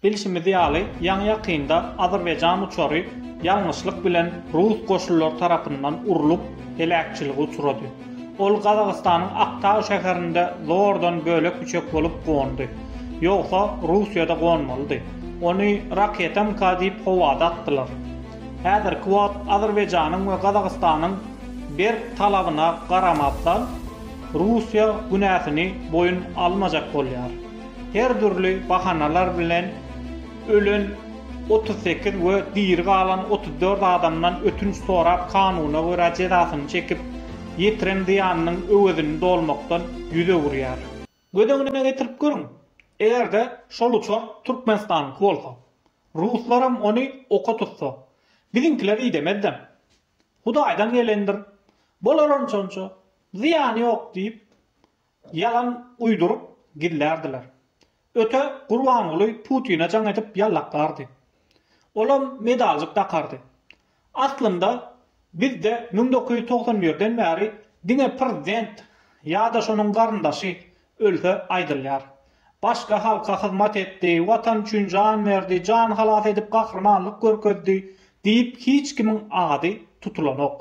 Bilşimiz ýaly, ýaňy-ýakynda azerbaýjan uçary ýalňyşlyk bilen rus goşunlary tarapyndan urlup, heläkçilige uçrady. Ol Gazagystanyň Aktau şäherinde zordan bölek-üçek bolup gondy. Ýogsa, Russiýada gonmalydy. Ony raketanka diýip howada atdylar. Häzirki wagt Azerbaýjanyň we Gazagystanyň berk talabyna garamazdan, Russiýa günäsini boýun almajak bolýar. her dürli bahanalar bilen ölen otuz sekiz we diri galan otuz dört adamdan ötünç sorap kanuna görä jezasyny çekip, ýetiren zyýanynyň öwezini dolmakdan ýüz öwürýär. Göz öňüne getirip görüň, eger-de şol uçar Türkmenistanyňky bolsa, ruslaram ony oka tutsa, biziňkiler idemezden. Hudaýdan gelendir, bolar onçança, zyýany ýok diýip, Ýalan uýduryp gizlärdiler. Öte Gurbanguly Putine jaň edip ýallaklardy. Olam medaljyk dakardy. Aslynda bizde müň dokuz ýüz togsan birden bäri diňe prezident ýa-da şonuň garyndaşy ölse aýdylýar. Başga halka hyzmat etdi, watan üçin jan berdi, jan halas edip gahrymanlyk görkezdi diýip hiç kimiň ady tutulanok.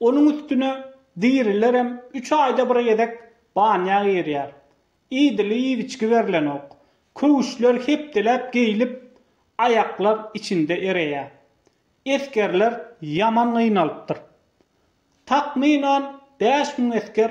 Onuň üstüne dirilerem üç aýda bir gezek banýa girýär. Idili iýgiçgi berlenok. Köwüşler hepdeläp geýlip, aýaklar içinde ereýär. Esgerler ýaman gynalypdyr. Takmynan bäş müň esger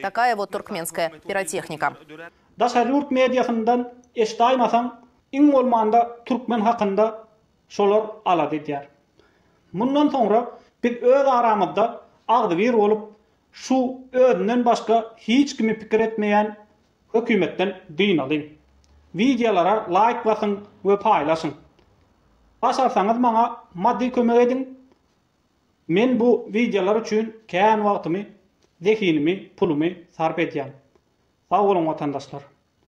Takaya wot turkmenskaya pirotehnika. Daşary ýurt mediasyndan eşdaýmasaň, iň bolmanda türkmen hakynda şolar alada edýär. Mundan soňra biz öz aramyzda agzybir bolup, şu özünden başga hiç kimi pikir etmeýän hökümetden dynalyň. Wideolara laýk basyň we paýlaşyň. Başarsaňyz maňa maddy kömek ediň, Men bu wideolar üçin kän wagtymy, zehinimi, pulumy sarp edýän. Sag boluň watandaşlar.